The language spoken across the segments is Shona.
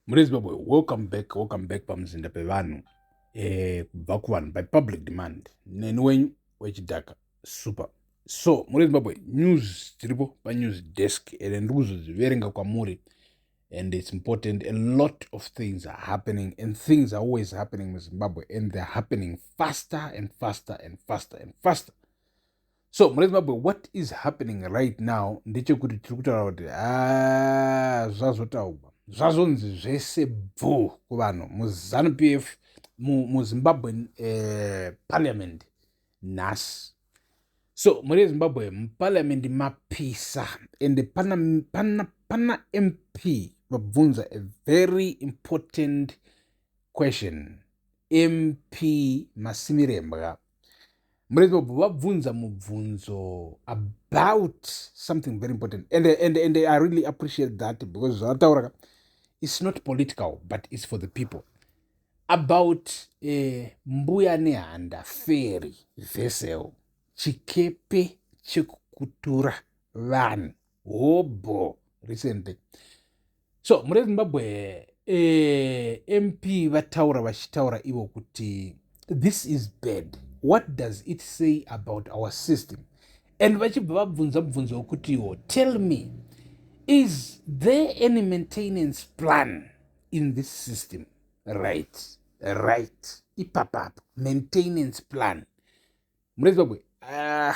Muri Zimbabwe, welcome back, welcome back pamuzinda pevanhu eh, kubva eh, kuvanhu by public demand neni wenyu wechidhaka super so muri Zimbabwe news dziripo panews desk ende ndiri kuzodziverenga kwamuri and it's important a lot of things are happening and things are always happening muzimbabwe and they're happening faster and faster and faster and faster so mune zimbabwe what is happening right now ndechekuti tiri kutaura kuti ah, zvazotaugwa zvazonzi zvese bvu kuvanhu muzanu p f muzimbabwe mu eh, parliament nhasi so muri yezimbabwe muparliament mapisa ende pana, pana, pana mp vabvunza a very important question mp masimirembwa murezi wabva vabvunza mubvunzo about something very important and, and, and i really appreciate that because zvavataura ka its not political but its for the people about uh, mbuya nehanda feri vessel chikepe chekukutura vanhu hobho recently so mune zimbabwe eh, mp vataura vachitaura ivo kuti this is bad what does it say about our system and vachibva vabvunza mubvunzo wekutiwo tell me is there any maintenance plan in this system right right ipapapa maintenance plan mune zimbabwe ah.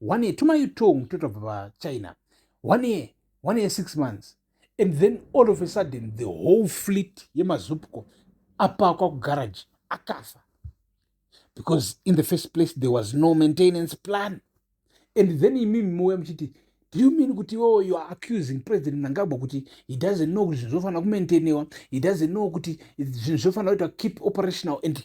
one year tuma yutong totobva pachina one year one year six months and then all of a sudden the whole fleet yemazupco apakwa kugaraji akafa because in the first place there was no maintenance plan and then imimi mouya muchiti do you mean kuti iwewo oh, youare accusing president mnangagwa kuti he doesn't know kuti zvinhu zvofanira kumaintainewa he doesn't know kuti zvinhu zvofanira kuitwa keep operational and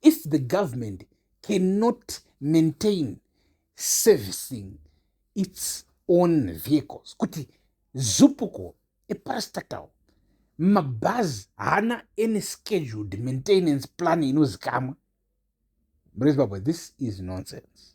if the government cannot maintain servicing its own vehicles kuti zupuko eparastatal mabhazi haana any scheduled maintenance plan inozikamwa murezimbabwe this is nonsense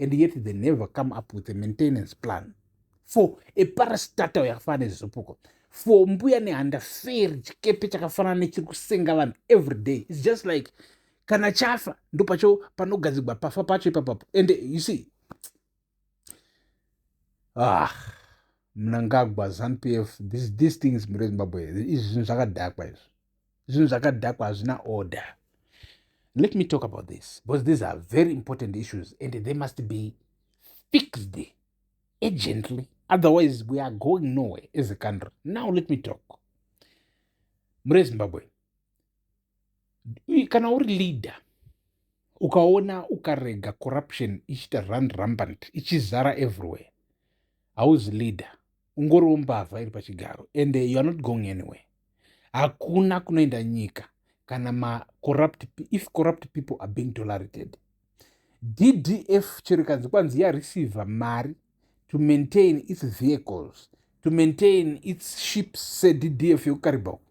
and yet they never come up with a maintenance plan for a parastatal yakafanana nezvizopuko for mbuya nehanda feri chikepe chakafanana nechiri kusenga vanhu every day its just like kana chafa ndo pacho panogadzigwa pafa pacho ipapapo and you see ah mnangagwa zanupf this, these things mure zimbabwe izvi zvinhu zvakadhakwa izvi zvinhu zvakadhakwa hazvina order let me talk about this because these are very important issues and they must be fixed urgently otherwise we are going nowhere as a country now let me talk mure zimbabwe kana uri leader ukaona ukarega corruption ichiita run rumbant ichizara everywhere hauzi leader ungoriwo mbavha iri pachigaro and you are not going anywhere hakuna kunoenda nyika kana macorrupt if corrupt people are being tolerated ddf chero ikanzi kwanzi yareceive mari to maintain its vehicles to maintain its ships seddf yekukaribha uku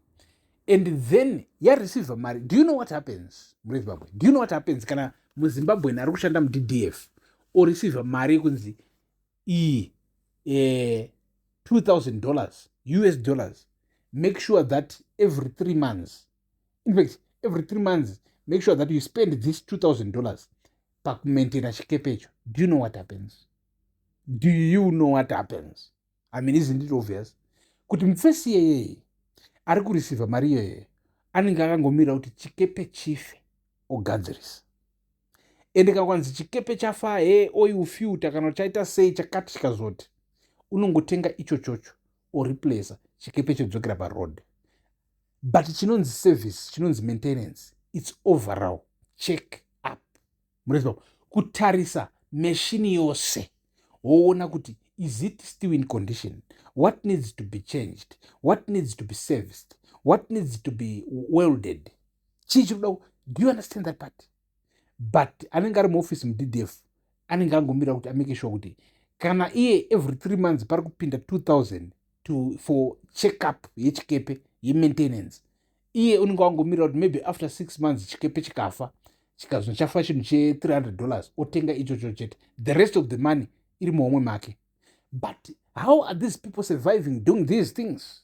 and then yareceive mari do you know what happens murezimbabwe do you know what happens kana muzimbabwen ari kushanda muddf oreceive mari yekunzi iyi eh, 2000 dollars us dollars make sure that every three months in fact every three months make sure that you spend this 2000 dollars pakumaintaina chikepe icho do you know what happens do you know what happens i mean isn't it obvious kuti mufesi yeyeye ari kurisivha mari iyoyeye anenge akangomira kuti chikepe chife ogadzirisa ende kana kwanzi chikepe chafaa hee oil filter kana chaita sei chakati chikazoti unongotenga icho chocho oreplacer chikepe chodzokera paroad but chinonzi service chinonzi maintenance its overall check up mureziva kutarisa meshini yose woona kuti is it still in condition what needs to be changed what needs to be serviced what needs to be welded chii chiri kuda do you understand that part but anenge ari muoffice muddf anenge angomirira kuti amake sure kuti kana iye every three months pari kupinda 2000 to for check up yechikepe yemaintenance iye unenge wangomirira kuti maybe after six months chikepe chikafa chikazvino chafa chinhu che300 dollars otenga ichocho chete the rest of the money iri muhomwe make but how are these people surviving doing these things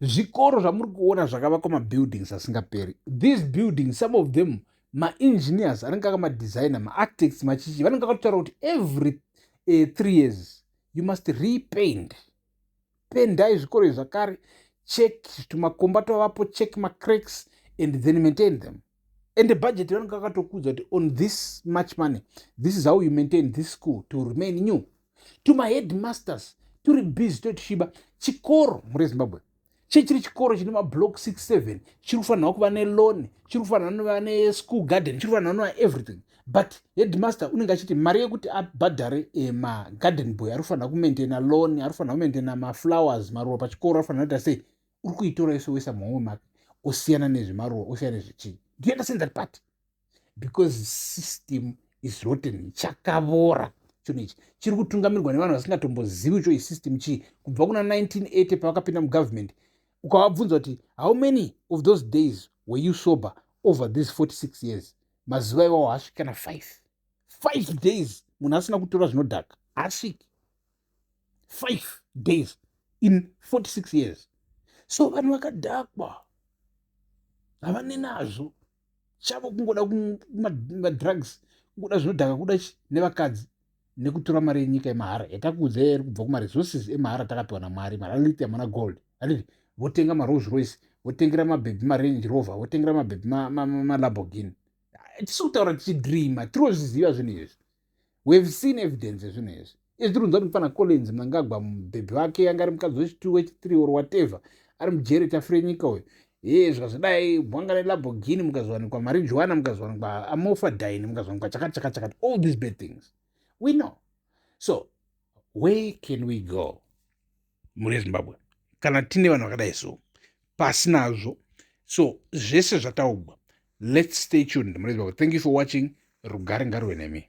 zvikoro zvamuri kuona zvakavakwa mabuildings asingaperi these buildings some of them maengineers anenge aka madesigner maarchitects machichi vanenge akatotaura kuti every uh, three years you must repaint pendai zvikoro izvi zvakare check tumakomba twavapo check macracks and then maintain them and the budget vanenge vakatokuudza kuti on this much money this is how you maintain this school to remain new to my headmasters tiri busy totishiba chikoro mure zimbabwe chechiri chikoro chine mablock 67 chiri kufanirwa kuva nelone chiri kufanirwa nova neschool garden chiri kufanirwa nova everything but headmaster unenge achiti mari yekuti abhadhare eh, magarden boy ari kufanira kumaintaina lone ari kufanira kumaintaina maflowers maruva pachikoro ari kufanira kuita sei uri kuitora yose woisa muhomwe make osiyana nezvemaruwa osiyana nezvechii do you understand that part because system is rotten chakavora chinhu ichi chiri kutungamirwa nevanhu vasingatombozivi cho isystem chii kubva kuna 1980 pavakapinda mugovernment ukavabvunza kuti how many of those days were you sober over these 46 years mazuva iwawo haasviki kana 5 5 days munhu asina kutora zvinodhaka haasviki five days in 46 years so vanhu vakadhakwa havane nazvo chavo kungoda madrugs kungoda zvinodhaka kuda chi nevakadzi nekutora mari yenyika yemahara yatakuudzai yari kubva kumaresources emahara takapiwa namwari maraliti amana gold atiti votenga marose royce votengera mabhebhi marange rover votengera mabhebhi malabogin tisikutaura tichidreama tirozviziva zvinhu izvi we have seen evidence yezvinhu izvi izvi tiri kunzwa kuti mufana collins mnangagwa mubhebhi wake yanga ari mukadzi wechitu wechithree or whatever ari mujeri tafure nyika uyu hee zvazvidai bwanga nelabogini mukazviwanikwa mari juwana mukazviwanikwa amofa dine mukazviwanikwa chakati chakati chakati all these bad things we know so where can we go mhuri yezimbabwe kana tine vanhu vakadai so pasi nazvo so zvese zvataugwa let's stay tuned mhuri yezimbabwe thank you for watching rugare ngaruve nemi